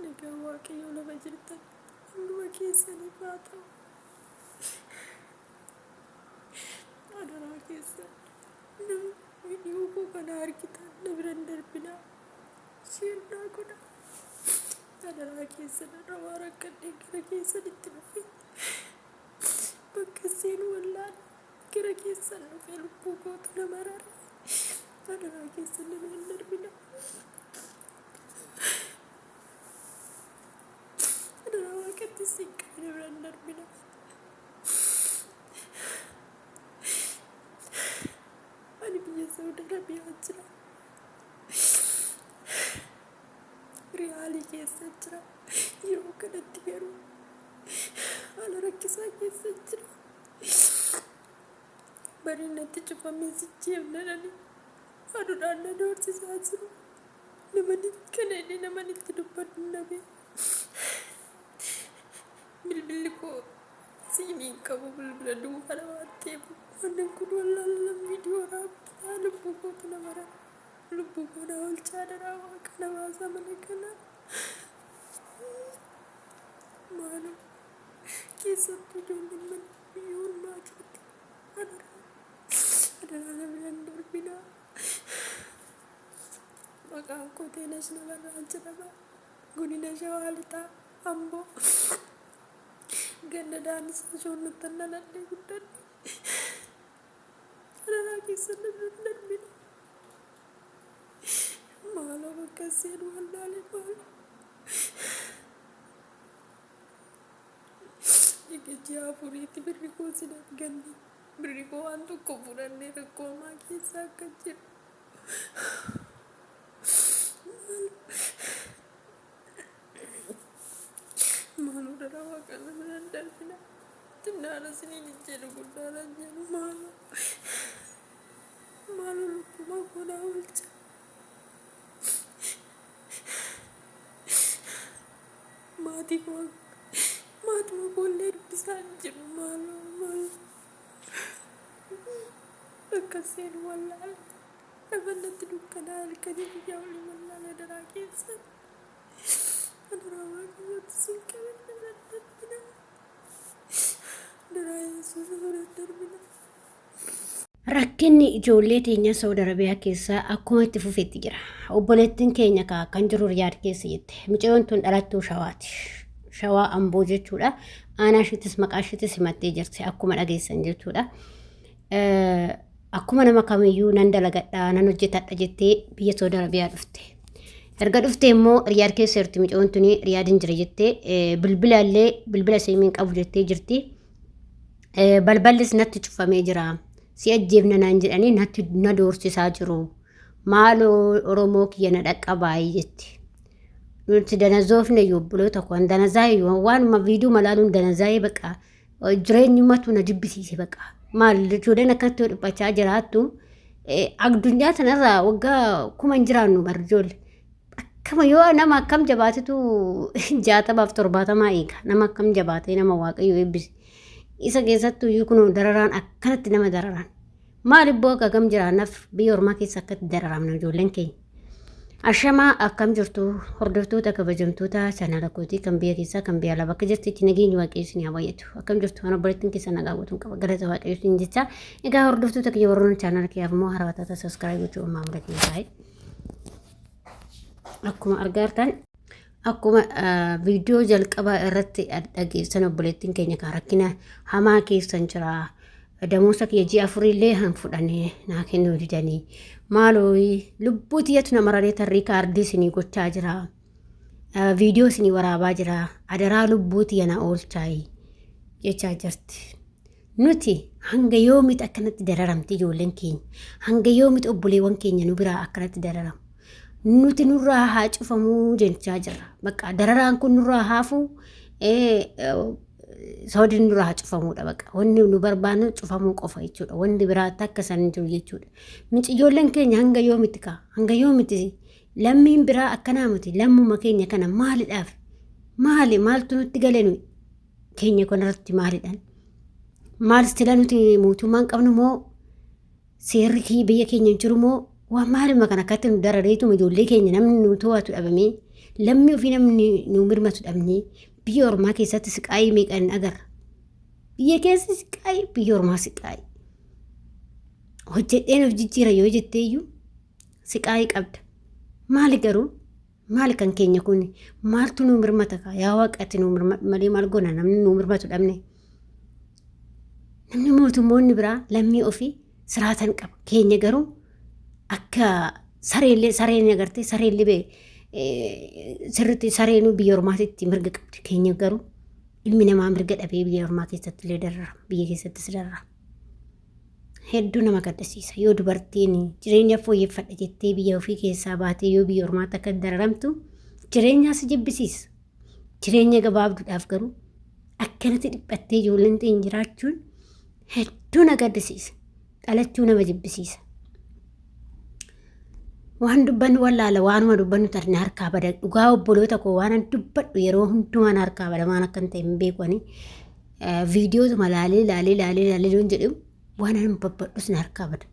Nagaa waaqayyoo lafa jirtan hunduma keessaniif haa ta'u. Adaraa keessan namni viidiyoo koo kana argitan na bira hin darbinaa. Sheer naa godhaa. Adaraa keessan adawaa rakkadhee gara keessan itti dhufe. Bakka seen wallaan gara keessan dhufe lubbuu kootu na marare. Adaraa keessan na bira hin darbinaa. Adaraa waaqatti siin qabne bira hin darbina. Ani biyya Saudi Arabiyaa jira. Riyaalii keessa jira. Yeroo kanatti garuu haala rakkisaa keessa jira. Bariin natti cufamee sichi himnadhani. Aduudhaan na doorsisaa jiru. Namani kana illee naman itti dubbadhu hin dhabe. Bilbilli koo siimii hin qabu bilbila duwwaadha waan ta'eef waanan kun wallaala viidiyoo raabbisaa lubbuu kootu na mara. Lubbuu koo na oolchaa daraa waaqa na baasaa mana kana. Maaloo keessattuu ijoolleen mana biyyoon maatiitti adaraa Adaraa na bira hin darbinaa. Maqaan koo Teenash Nabarraa jedhama. Godina Shawaa Lixaa Amboo. Ganda Daanis Shoonnuttan dhaladhee guddadhe. Adaraa keessan na bira hin darbinaa. Maaloo bakka seenu wallaalee maaloo. Dhigichi afuriitti birri koo sinaaf ganne. Birrii koo waan tokko fudhannee rakkoo hamaa keessa akka jiru. Maaloo dhala waaqaan nama naan darbina. Xinnaadha siniin hin jedhu guddaadha hin jedhu maaloo. Maaloo lubbumaa koo naa oolcha. Maatii koo maatuma koo illee dubbisaa hin jiru maaloo maaloo bakka seenu wallaala lafa natti dukkanaa halkanii guyyaa olii wallaala daraa keessan adaraa waaqayyooti sin qabadha nan darbina daraa yesuus irra darbina. Rakkinni ijoollee teenyaa Saawud Arabiyaa keessaa akkuma itti fufetti jira. Obboleettiin keenya kaa kan jiru Riyaad keessa jette. Mucayyoon tun dhalattuu Shawaati. Shawaa Amboo jechuudha. Aanaa ishiitis maqaa ishiitis himattee jirti akkuma dhageessan jechuudha. Akkuma nama kamiyyuu nan dalagadha nan hojjetadha jettee biyya Saawud Arabiyaa dhufte. Erga dhufte immoo Riyaad keessa jirti mucayyoon tuni Riyaadin jira jettee bilbila illee bilbila siimiin qabu jettee jirti. balballis natti cufamee jira si ajjeefna naan jedhanii natti na doorsisaa jiru maaloo oromoo kiyya na dhaqqabaayii jetti nuti danazoofne iyyuu obboloota koo an danazaa'e waan- waanuma viidiyoo malaaluun danazaa'e baqa jireenyumatu na jibbisiise baqa maal ijoolleen akkanatti yoo dhiphachaa jiraattu eh, addunyaa tanarraa waggaa kuma hin jiraannu bar ijoollee akkama yoo nama akkam jabaatetu jaatamaaf torbaatamaa eega nama akkam jabaatee nama waaqayyo eebbise Isa keessattuu iyyuu kunoo dararaan akkanatti nama dararaan. Maal ibboo akka gam jiraannaaf biyya ormaa keessa akkatti dararamna ijoolleen keenya. Ashamaa akkam jirtu hordoftoota kabajamtoota chaanaala kootii kan biyya keessaa kan biyya alaa bakka jirtitti nageenyi waaqayyoo isin haa baay'atu. Akkam jirtu ana obboleettiin keessa nagaa guutuun qaba galata waaqayyoo isin jecha. Egaa hordoftoota kiyya warroon chaanaala kiyyaaf immoo haaraa taata saskiraayib gochuu uumaa mudatan taa'e. Akkuma argaa jirtan Akkuma viidiyoo jalqabaa irratti dhageessan obboleettiin keenya kan rakkina hamaa keessan jira. Damoosa kiyya ji'a afuriillee han fudhanii naa kennuu didanii. Maaloo lubbuu tiyyatu na mararee tarrii kaardii isinii gochaa jira. Viidiyoo isinii waraabaa jira. Adaraa lubbuu tiyya na oolchaayi jechaa jirti. Nuti hanga yoomitti akkanatti dararamti ijoolleen keenya? Hanga yoomitti obboleewwan keenya nu biraa akkanatti dararamu? Nuti nurraa haa cufamuu jechaa jirra. Bakka dararaan kun nurraa haafuu soodni nurraa haa cufamuudha bakka. Wanni nu barbaannu cufamuu qofa jechuudha. Wanni biraa takka isaan hin jiru jechuudha. Nuti ijoolleen keenya hanga yoomitti kaa? Hanga yoomitti lammiin biraa akkanaa miti lammuma keenya kana maalidhaaf? Maali maaltu nutti gale nuyi? keenya kun irratti maalidhaan maal istila nuti mootummaan qabnu moo seerri kee biyya keenya hin jiru moo waa maaluma kan akkatti nu darareetuma ijoollee keenya namni nu to'atu dhabamee lammii ofii namni nu mirmatu dhabnee biyya ormaa keessatti siqaayii meeqan agarra biyya keessa siqaayii biyya ormaa siqaayii hojjedheen of jijjiira yoo jetteeyyuu siqaayii qabda maali garuu Maali kan keenya kun maaltu nuu mirmata kaa yaa waaqa ati nuu mirmadhu malee maal goona namni nuu mirmatu dhabne. Namni mootummoonni biraa lammii ofii siraatan qaba keenya garuu akka sareellee sareen agartee sareellee bee sirriitti sareenuu biyya ormaatitti mirga qabdi keenya garuu ilmi namaa mirga dhabee biyya ormaa keessatti illee darara biyya keessattis darara. hedduu nama gaddisiisa yoo dubartiin jireenya fooyyeffadha jettee biyya ofii keessaa baatee yoo biyya ormaatti akka dararamtu jireenyaa si jibbisiisa jireenya gabaabduudhaaf garuu akkanatti dhiphattee ijoolleen ta'in jiraachuun hedduu na gaddisiisa dhalachuu nama jibbisiisa waan dubbannu wallaala waanuma dubbannu tarne harkaa bada dhugaa obboloota koo waan dubbadhu yeroo hundumaan harkaa bada waan akkan ta'e hin beeku ani viidiyootuma laalee laalee laalee laalee loon jedhu waan an babbadhus na harkaa bada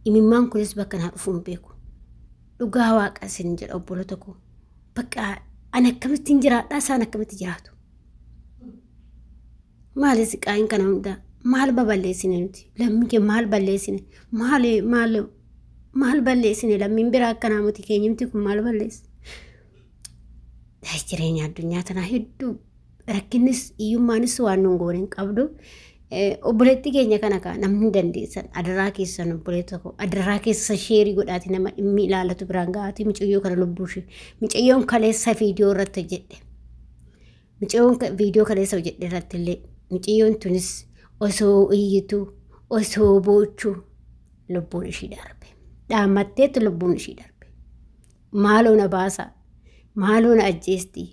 imimmaan kunis bakka naa dhufu hin beeku dhugaa waaqa isin jedha obboloota koo bakka an akkamittiin jiraadhaa isaan akkamitti jiraatu maali siqaayin kana hundaa maal baballeessine nuti lammii kee maal balleessine maal maal maal balleessine lammiin biraa akka naamuti keenyumti kun maal balleesse jireenya addunyaa tanaa hedduu rakkinnis hiyyummaanis waan nun goone hin qabdu. Eh, Obboleetti keenya kana kaa namni dandeessan adaraa keessan obboleetti tokko adaraa keessa sheerii godhaati nama dhimmi ilaalatu biraan ga'aati micayyoo kana lubbuu ishee micayyoon kaleessa viidiyoo irratti hojjedhe. Micayyoon ka- viidiyoo kaleessa hojjedhe irratti illee micayyoon tunis osoo iyyitu osoo boochu lubbuun ishii darbe. Dhaammatteetti lubbuun ishii darbe. maaloo na baasa maaloo na ajjeesti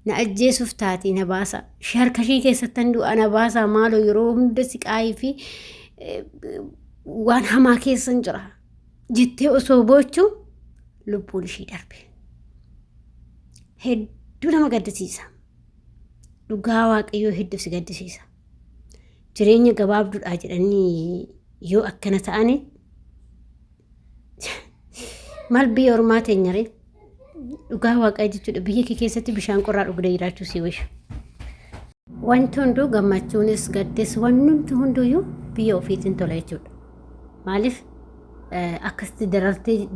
na ajjeesuuf taati na baasa ishee harka ishee keessattan du'a na baasa maaloo yeroo hunda siqaayii fi eh, waan hamaa keessan jira jettee osoo boochu lubbuun ishee darbe hedduu nama gaddisiisa dhugaa waaqayyoo hedduu si gaddisiisa jireenya gabaabduudhaa jedhanii yoo akkana ta'ani maal biyya ormaa teenyaree dhugaa waaqaa jechuudha biyya kee keessatti bishaan qorraa dhugdee jiraachuu si wisha. Wanti hunduu gammachuunis gaddis wanti hunduyyuu biyya ofiitiin tola jechuudha. Maaliif akkasitti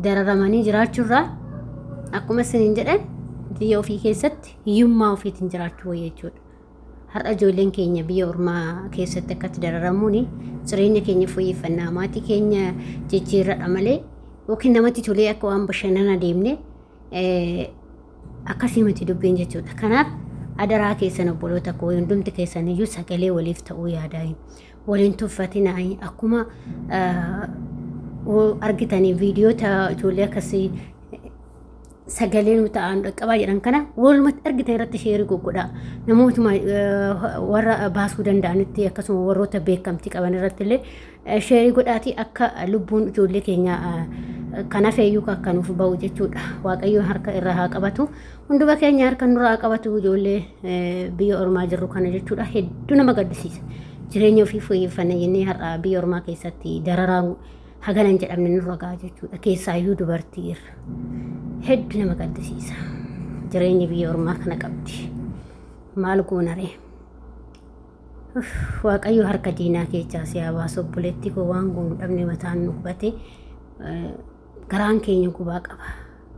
dararamanii jiraachuurraa akkuma isiniin jedhan biyya ofii keessatti hiyyummaa ofiitiin jiraachuu wayya jechuudha. Har'a ijoolleen keenya biyya ormaa keessatti akkatti dararamuun jireenya keenya fooyyeffannaa maatii keenya jijjiirradha malee yookiin namatti tolee akka waan bashannana deemne akkasii miti dubbiin jechuudha. Kanaaf adaraa keessan obboloota koo hundumti keessan iyyuu sagalee waliif ta'uu yaadaa waliin tuffatinaa akkuma argitanii viidiyoota ijoollee akkasii sagalee nu ta'an dhaqqabaa jedhan kana walumatti argitan irratti sheerii goggodhaa namootuma warra baasuu danda'anitti akkasuma warroota beekamtii qaban irratti illee sheerii godhaatii akka lubbuun ijoollee keenya kan hafeeyyuu akka nuuf ba'u jechuudha waaqayyoon harka irraa haa qabatu hunduma keenya harka nurraa haa qabatu ijoollee biyya ormaa jirru kana jechuudha hedduu nama gaddisiisa jireenya ofii fooyyeffanna jennee har'a biyya ormaa keessatti dararaan hagana hin jedhamne nurra ga'a jechuudha. Keessaayyuu dubartii irra. Heddu nama gaddisiisa. Jireenyi biyya ormaa kana qabdi. Maal goonaree? Waaqayyo harka diinaa keessaa si haa baasu obboleetti koo waan goonu dhabne mataan nu hubate garaan keenya gubaa qaba.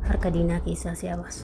Harka diinaa keessaa si haa baasu.